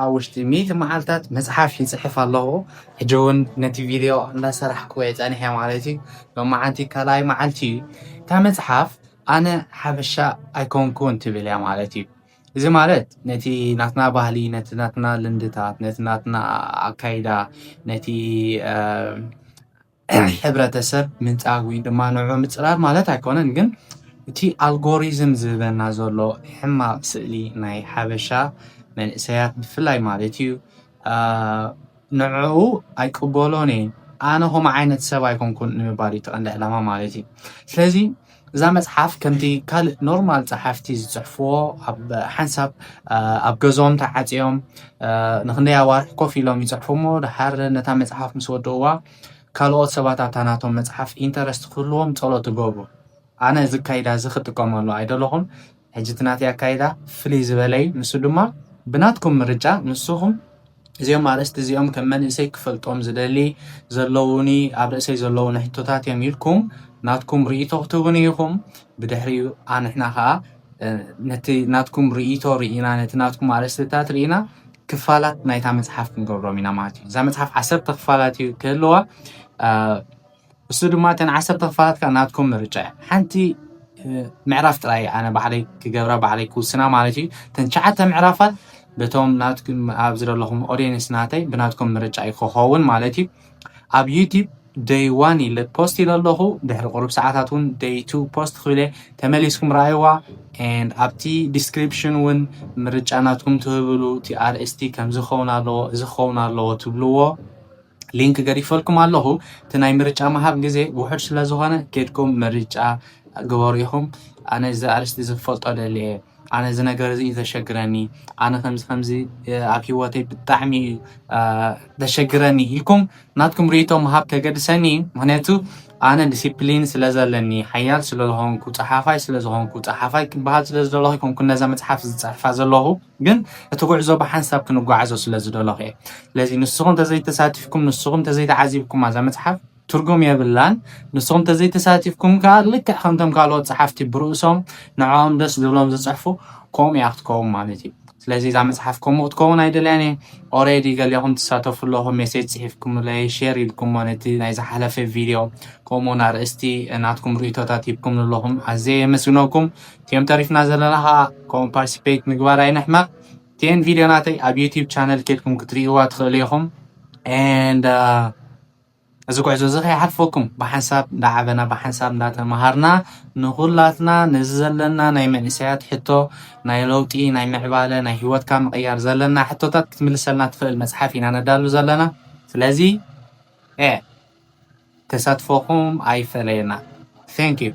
ኣብ ውሽጢ ሚእቲ መዓልታት መጽሓፍ ይጽሕፍ ኣለኹ። ሕጂ እውን ነቲ ቪድዮ እንዳሰራሕኩ እየ ጸኒሐ ማለት እዩ። ሎማዓንቲ ካልኣይ መዓልቲ እዩ። እታ መጽሓፍ ኣነ ሓበሻ ኣይኮንኩን ትብል እያ ማለት እዩ። እዚ ማለት ነቲ ናትና ባህሊ፣ ነቲ ናትና ልምድታት፣ ነቲ ናትና ኣካይዳ፣ ነቲ ሕብረተሰብ ምንፃግ ወይ ድማ ንዑ ምፅራር ማለት ኣይኮነን ግን እቲ ኣልጎሪዝም ዝህበና ዘሎ ሕማቅ ስእሊ ናይ ሓበሻ መንእሰያት ብፍላይ ማለት እዩ ንዕኡ ኣይቅበሎን እየ ኣነ ከምኡ ዓይነት ሰብ ኣይኮንኩን ንምባል እዩ እቲ ቀንዲ ዕላማ ማለት እዩ ስለዚ እዛ መጽሓፍ ከምቲ ካልእ ኖርማል ጸሓፍቲ ዝጽሕፍዎ ኣብ ሓንሳብ ኣብ ገዞም ተዓጽዮም ንክንደይ ኣዋርሕ ኮፍ ኢሎም ይጽሕፉ እሞ ድሓር ነታ መጽሓፍ ምስ ወድእዋ ካልኦት ሰባት ኣብታ ናቶም መጽሓፍ ኢንተረስት ክህልዎም ጸሎት ትገብሩ ኣነ እዚ ካይዳ እዚ ክጥቀመሉ ኣይደለኹን ሕጂ እቲ ናተይ ኣካይዳ ፍልይ ዝበለ እዩ፣ ንሱ ድማ ብናትኩም ምርጫ ንስኹም እዚኦም ኣርእስቲ እዚኦም ከም መንእሰይ ክፈልጦም ዝደሊ ዘለዉኒ ኣብ ርእሰይ ዘለዉኒ ሕቶታት እዮም ኢልኩም ናትኩም ርእይቶ ክትህቡኒ ኢኹም፣ ብድሕሪኡ ኣንሕና ከኣ ነቲ ናትኩም ርእይቶ ርኢና ነቲ ናትኩም ኣርእስትታት ርኢና ክፋላት ናይታ መጽሓፍ ክንገብሮም ኢና ማለት እዩ። እዛ መጽሓፍ ዓሰርተ ክፋላት እዩ ክህልዋ እሱ ድማ እተን ዓሰርተ ክፋላት ከዓ ናትኩም ምርጫ እያ ሓንቲ ምዕራፍ ጥራይ ኣነ ባዕለይ ክገብራ ባዕለይ ክውስና ማለት እዩ እተን ትሽዓተ ምዕራፋት በቶም ናትኩም ኣብ ዝደለኹም ኦዲየንስ ናተይ ብናትኩም ምርጫ እዩ ክኸውን ማለት እዩ ኣብ ዩቲብ ደይ ዋን ኢለ ፖስት ኢለ ኣለኹ ድሕሪ ቁሩብ ሰዓታት እውን ደይ ቱ ፖስት ክብለ ተመሊስኩም ረኣይዋ ንድ ኣብቲ ዲስክሪፕሽን እውን ምርጫ ናትኩም ትህብሉ እቲ ኣርእስቲ ከምዚ ክኸውን ኣለዎ እዚ ክኸውን ኣለዎ ትብልዎ ሊንክ ገዲፈልኩም ኣለኹ እቲ ናይ ምርጫ ምሃብ ግዜ ውሑድ ስለ ዝኾነ ኬድኩም ምርጫ ግበሩ ኢኹም ኣነ እዚ ኣርስቲ እዚ ክፈልጦ ደሊ እየ ኣነ እዚ ነገር እዚ እዩ ዘሸግረኒ ኣነ ከምዚ ከምዚ ኣብ ሂወተይ ብጣዕሚ እዩ ዘሸግረኒ ኢልኩም ናትኩም ርእቶ ምሃብ ከገድሰኒ እዩ ምክንያቱ ኣነ ዲሲፕሊን ስለ ዘለኒ ሓያል ስለ ዝኾንኩ ፀሓፋይ ስለ ዝኾንኩ ፀሓፋይ ክበሃል ስለ ዝደለኹ ይኮንኩ ነዛ መፅሓፍ ዝፅሕፋ ዘለኹ ግን እቲ ጉዕዞ ብሓንሳብ ክንጓዓዞ ስለ ዝደለኹ እየ። ስለዚ ንስኹም ተዘይተሳቲፍኩም ንስኹም ተዘይተዓዚብኩማ እዛ መጽሓፍ ትርጉም የብላን። ንስኹም ተዘይተሳቲፍኩም ከኣ ልክዕ ከምቶም ካልኦት ጸሓፍቲ ብርእሶም ንዕኦም ደስ ዝብሎም ዝጽሕፉ ከምኡ እያ ክትከውን ማለት እዩ። ስለዚ እዛ መጽሓፍ ከምኡ ክትከውን ኣይደልያን እየ። ኦሬዲ ገሊኹም ትሳተፉ ኣለኹም ሜሴጅ ጽሒፍኩምለይ ሼር ኢልኩሞ ነቲ ናይ ዝሓለፈ ቪድዮ ከምኡውን ኣርእስቲ ናትኩም ርእይቶታት ሂብኩምኒ ኣለኹም ኣዝየ የመስግነኩም። እቲም ተሪፍና ዘለና ከኣ ከምኡ ፓርቲስፔት ምግባር ኣይንሕመቅ እቲኤን ቪድዮ ናተይ ኣብ ዩቲብ ቻነል ኬድኩም ክትርእይዋ ትኽእሉ ኢኹም ንድ እዚ ጉዕዞ እዚ ከይሓልፈኩም ብሓንሳብ እንዳዓበና ብሓንሳብ እንዳተምሃርና ንኹላትና ነዚ ዘለና ናይ መንእሰያት ሕቶ ናይ ለውጢ ናይ ምዕባለ ናይ ሂወትካ ምቕያር ዘለና ሕቶታት ክትምልሰልና ትኽእል መፅሓፍ ኢና ነዳሉ ዘለና ስለዚ ተሳትፎኹም ኣይፈለየና ዩ